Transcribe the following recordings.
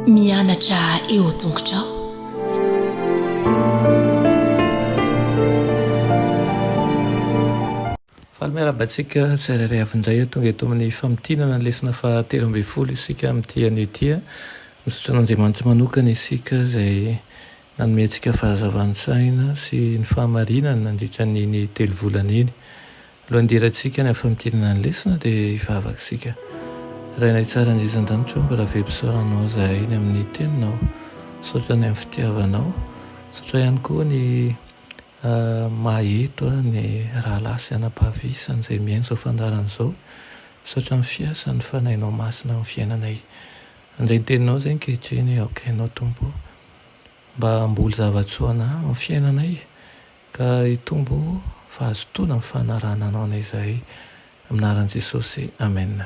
Mianatra eo an-tongotrao. Faly miarahaba antsika tsirairay avy indray tonga eto amin'ny famintinana ny lesona fahatelo ambin'ny folo isika amin'ity anio ity. Misaotra an'Andriamanitra manokana isika izay nanome antsika fahazavan-tsaina sy ny fahamarinana nandritra an'iny telo volana iny. Lohandirantsika ny hafamitinana ny lesona dia hivavaka isika. Rainay tsara indrindra an-danitra ô, mbola very fisaorana anao izahay ny amin'ny Teninao. Misaotra ny amin'ny fitiavanao. Misaotra ihany koa ny maha eto ahy ny rahalahy sy anabavy isany izay mihaino izao fandaharana izao. Misaotra amin'ny fiasan'ny Fanahinao Masina amin'ny fiainanay. Handray ny Teninao izay ankehitriny aho, ka Ianao Tompo ô, mba hamboly zava-tsoa anah amin'ny fiainanay, Ka hitombo fahazotoana ny fanarahana anao na izahay aminaran'i Jesosy Amen.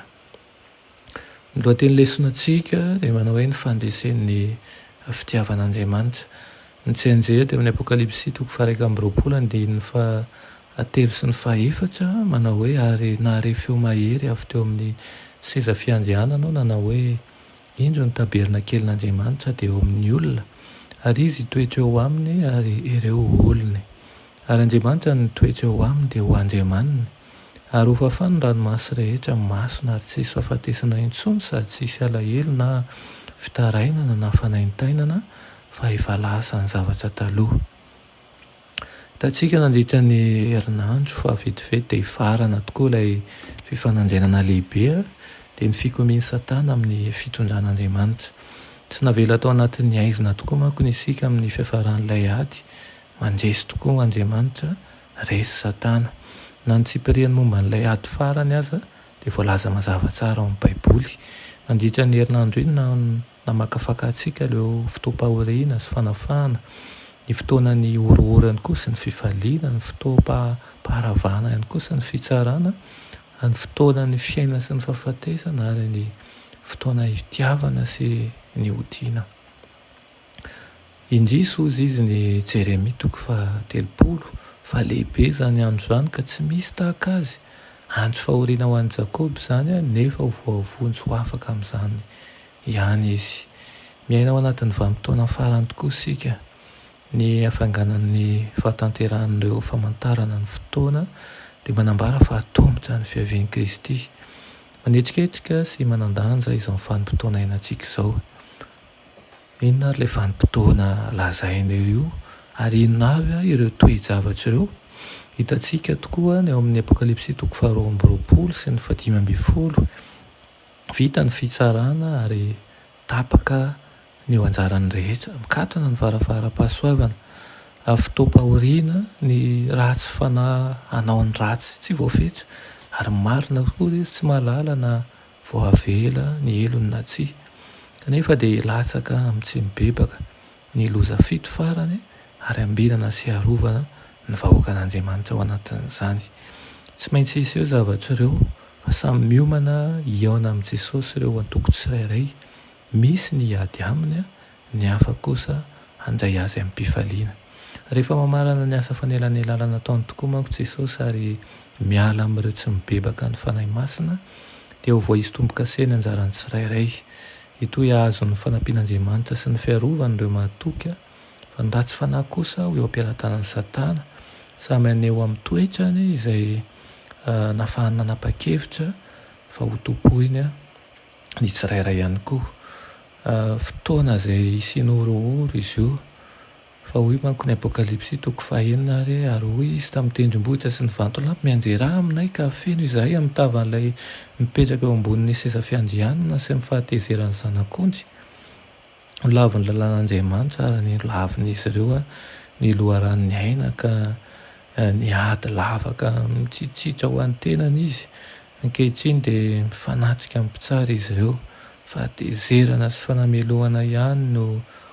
Ny lohateny lesonantsika dia manao hoe ny fandresen'ny fitiavan'Andriamanitra. Ny tsianjery dia ao amin'ny Apokalypsy toko faha-iraika amby roapolo andininy fahatelo sy ny fahefatra manao hoe ary nahare feo mahery avy teo amin'ny seza fiandrianana aho nanao hoe Indro ny tabernakelin'Andriamanitra dia eo amin'ny olona, ary Izy hitoetra eo aminy, ary ireo ho olony. Ary Andriamanitra no hitoetra eo aminy dia ho Andriamaniny, ary hofafany ny ranomasy rehetra masina, ary tsy hisy fahafatesana intsony sady tsy hisy alahelo na fitarainana na fanaintainana, fa efa lasa ny zavatra taloha. Hitantsika nandritra ny herinandro fa vetivety dia hifarana tokoa ilay fifanandrinana lehibe, dia ny fikomian'i Satana amin'ny fitondran'Andriamanitra. Tsy navela tao anatin'ny haizina tokoa manko ny isika amin'ny fiafaran'ilay ady, mandresy tokoa Andriamanitra, resy Satana. Na ny tsipiriany momba an'ilay ady farany aza dia voalaza mazava tsara ao amin'ny Baiboly. Nandritra iny herinandro iny na. Namakafaka antsika ireo fotoam-pahoriana sy fanafahana, ny fotoanan'ny horohorany koa sy ny fifaliana, ny fotoam-paharavana ihany koa sy ny fitsarana, ny fotoanan'ny fiainana sy ny fahafatesana ary ny fotoana hitiavana sy ny hotiana. Indrisy hozy izy ny Jeremia toko faha telopolo fa lehibe izany andro izany ka tsy misy tahaka azy, andro fahoriana ho an'i Jakoba izany nefa ho voavonjy ho afaka amin'izany ihany izy. Miaina ao anatin'ny vanim-potoana farany tokoa isika. Ny hafainganan'ny fahatanterahan'ireo famantarana ny fotoana dia manambara fa hatomboka ny fiavian'i Kristy. Manetriketrika sy manan-danja izao vanim-potoana iainantsika izao. Inona ary ilay vanim-potoana lazainao io, ary inona avy ireo toe-javatra ireo? Hitantsika tokoa ny ao amin'ny Apokalypsy toko faharoa amby roapolo sy ny fahadimy ambin'ny folo, vita ny fitsarana ary tapaka ny eo anjaran'ny rehetra, mikatona ny varavaram-pahasoavana, ary fotoam-pahoriana ny ratsy fanahy hanao ny ratsy tsy voafetra, ary marina tokoa izy tsy mahalala na vao avela ny helony na tsia, kanefa dia latsaka amin'ny tsy mibebaka ny loza fito farany ary ambinana sy arovana ny vahoakan'Andriamanitra ao anatin'izany. Tsy maintsy hisy ireo zavatra ireo fa samy miomana hihaona amin'i Jesosy ireo antoko tsirairay, misy ny hiady aminy Ny hafa kosa handray azy amim-pifaliana. Rehefa mamarana ny asa fanelanelalana ataony tokoa manko Jesosy ary miala amin'ireo tsy mibebaka ny Fanahy Masina, dia ho voaisy tombo-kase ny anjaran'ny tsirairay. Hitohy hahazo ny fanampian'Andriamanitra sy ny fiarovany ireo mahatoky, fa ny ratsy fanahy kosa ho eo am-pelatanan'i Satana, samy haneho amin'ny toetrany izay nahafahany nanapa-kevitra fa hotompoiny. ny tsirairay ihany koa. Fotoana izay hisian'ny horohoro izy io, fa hoy manko ny Apokalypsy toko fahenina ary, Ary hoy izy tamin'ny tendrombohitra sy ny vantolampy, Mianjerà aminay ka afeno izahay amin'ny tavan'ilay mipetraka eo ambonin'ny seza fiandrianana sy ny fahatezeran'ny Zanak'ondry. Ho lavin'ny lalàn'Andriamanitra ary ny lavin'izy ireo ny loharanon'ny aina, ka niady lava ka mitsitsitra ho an'ny tenany izy. Ankehitriny dia mifanatrika amin'ny mpitsara izy ireo, fahatezerana sy fanamelohana ihany no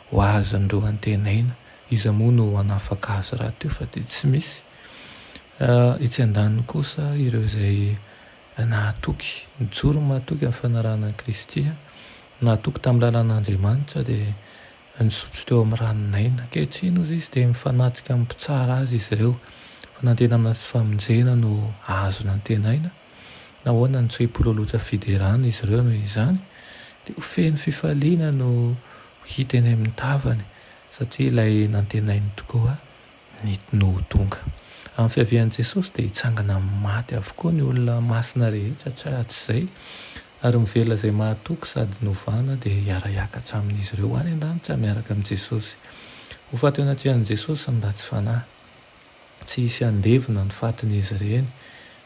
ho azon'ireo antenaina. Iza moa no hanafaka azy rahateo fa dia tsy misy. Etsy andaniny kosa ireo izay. Nahatoky. Nijoro ny mahatoky amin'ny fanarahana an'i Kristy. Nahatoky tamin'ny lalàn'Andriamanitra dia nisotro teo amin'ny ranon'aina. Ankehitriny, hoy izy, dia mifanatrika amin'ny Mpitsara azy izy ireo. Fanantenana sy famonjena no azony antenaina. Nahoana no tsy hipololotra fiderana izy ireo noho izany? Dia ho feno fifaliana no ho hita eny amin'ny tavany, satria ilay nantenainy tokoa ny tno ho tonga. Amin'ny fiavian'i Jesosy dia hitsangana amin'ny maty avokoa ny olona masina rehetra, tsy ratsy izay, ary mivela izay mahatoky sady novana dia hiara-hiakatra amin'izy ireo any an-danitra miaraka amin'i Jesosy. Ho faty eo anatrehan'i Jesosy ny ratsy fanahy. Tsy hisy handevina ny fatin'izy ireny,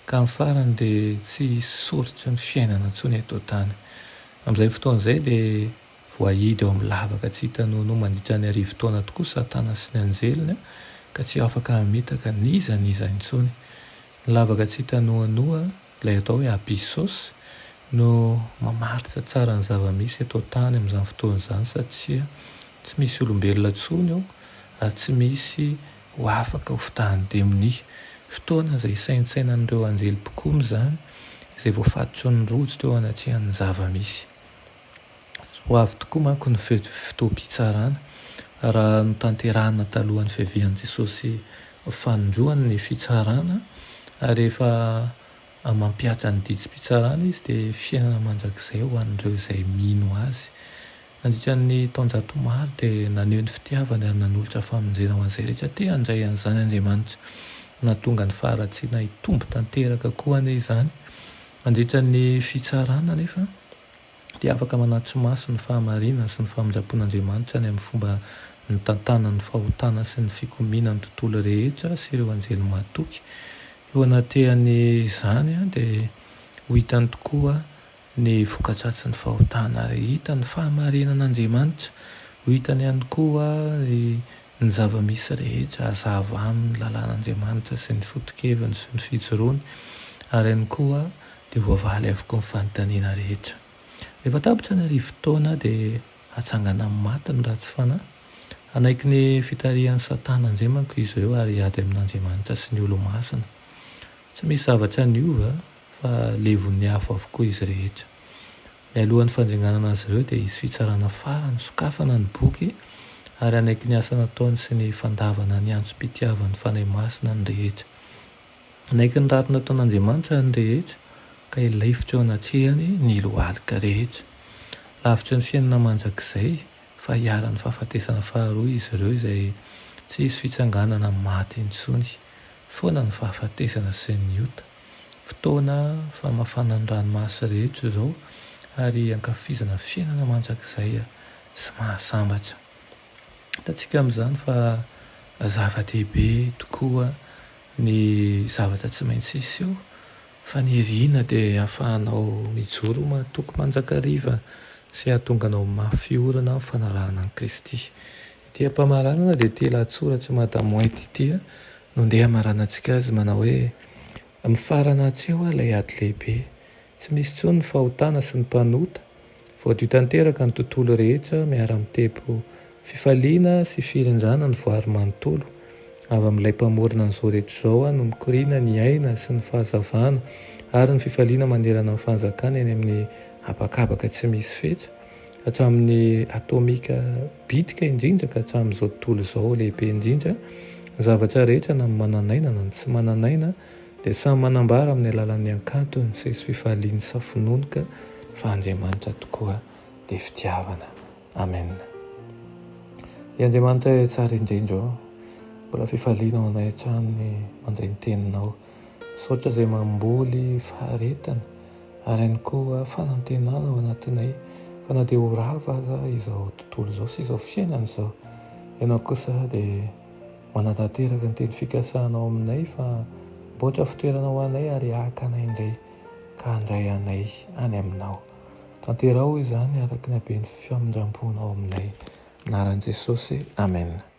ka amin'ny farany dia tsy hisy soritry ny fiainana intsony eto an-tany. Amin'izay fotoana izay dia. Voahidy ao amin'ny lavaka tsy hita noanoa mandritra ny arivo taona tokoa Satana sy ny anjeliny, ka tsy afaka hamitaka n'iza n'iza intsony. Ny lavaka tsy hita noanoa, ilay atao hoe abyssos, no mamaritra tsara ny zava-misy eto an-tany amin'izany fotoana izany, satria tsy misy olombelona intsony ao, ary tsy misy ho afaka ho fitahan'ny demonia. Fotoana izay isaintsainan'ireo anjely mpikomy izany, izay voafatotry ny rojo teo anatrehan'ny zava-misy. Ho avy tokoa manko ny fotoam-pitsarana, raha notanterahina talohan'ny fiavian'i Jesosy fanindroany ny fitsarana, ary rehefa mampihatra ny didim-pitsarana Izy dia fiainana mandrakizay ho an'ireo izay mino Azy. Nandritra ny taonjato maro dia naneho ny fitiavany ary nanolotra famonjena ho an'izay rehetra te handray an'izany Andriamanitra. Nahatonga ny faharatsiana hitombo tanteraka koa anie izany. Mandritra ny fitsarana anefa, dia afaka manatri-maso ny fahamarinana sy ny famindram-pon'Andriamanitra any amin'ny fomba nitantanany ny fahotana sy ny fikomiana ny tontolo rehetra sy ireo anjely mahatoky. Eo anatrehan'izany dia ho hitany tokoa ny voka-dratsin'ny fahotana ary hita ny fahamarinan'Andriamanitra. Ho hitany ihany koa ny Ny zava-misy rehetra hazava aminy ny lalàn'Andriamanitra sy ny foto-keviny sy ny fijoroany, ary ihany koa dia voavaly avokoa ny fanontaniana rehetra. Rehefa tapitra ny arivo taona dia hatsangana amin'ny maty ny ratsy fanahy. Hanaiky ny fitarihan'i Satana indray manko izy ireo ary hiady amin'Andriamanitra sy ny Olomasina. Tsy misy zavatra niova fa levon'ny afo avokoa izy rehetra. Mialoha ny fandringanana azy ireo dia hisy fitsarana farany, sokafana ny boky ary hanaiky ny asa nataony sy ny fandavana ny antsom-pitiavan'ny Fanahy Masina ny rehetra. Hanaiky ny ratsy nataon'Andriamanitra ny rehetra ka hilaifitra eo anatrehany ny lohalika rehetra. Lavitry ny fiainana mandrakizay fa hiharan'ny fahafatesana faharoa izy ireo izay tsy hisy fitsanganana amin'ny maty intsony foana ny fahafatesana sy ny ota. Fotoana famafana ny ranomasy rehetra izao ary hankafizana fiainana mandrakizay sy mahasambatra. Hitantsika amin'izany fa zava-dehibe tokoa ny zavatra tsy maintsy hiseho fa ny iriana dia hahafahanao mijoro ho mahatoky mandrakariva sy hahatonga anao mafy orina amin'ny fanarahana an'i Kristy. Ity am-pamaranana dia ity lahatsoratr'i Madame White ity no andeha hamaranantsika azy, manao hoe, Mifarana hatreo ho'a ilay ady lehibe. Tsy misy intsony ny fahotana sy ny mpanota. Voadio tanteraka ny tontolo rehetra miara-mitebo fifaliana sy firindrana ny voary manontolo. Avy amin'ilay Mpamorona an'izao rehetra izao ho'a no mikoriana ny aina sy ny fahazavana ary ny fifaliana manerana ny fanjakany eny amin'ny habakabaka tsy misy fetra. hatramin'ny atomika bitika indrindra ka hatramin'izao tontolo izao lehibe indrindra, ny zavatra rehetra na ny manan'aina na ny tsy manan'aina dia samy manambara amin'ny alalan'ny hankantony sy fifaliany sa finoany ka fa Andriamanitra tokoa dia fitiavana. Amen. Ry Andriamanitra tsara indrindra ô, mbola fifaliana ho anay hatrany ny mandre ny teninao. Misaotra izay mamboly faharetana ary ihany koa fanantenana ao anatinay fa na dia ho rava aza izao tontolo izao sy izao fiainana izao, ianao kosa dia manatanteraka ny teny fikasanao aminay fa miboatra fitoerana ho anay ary haka anay indray ka handray anay any aminao. Tanteraho izany araka ny haben'ny famindram-ponao aminay. Anaran'i Jesosy, Amen.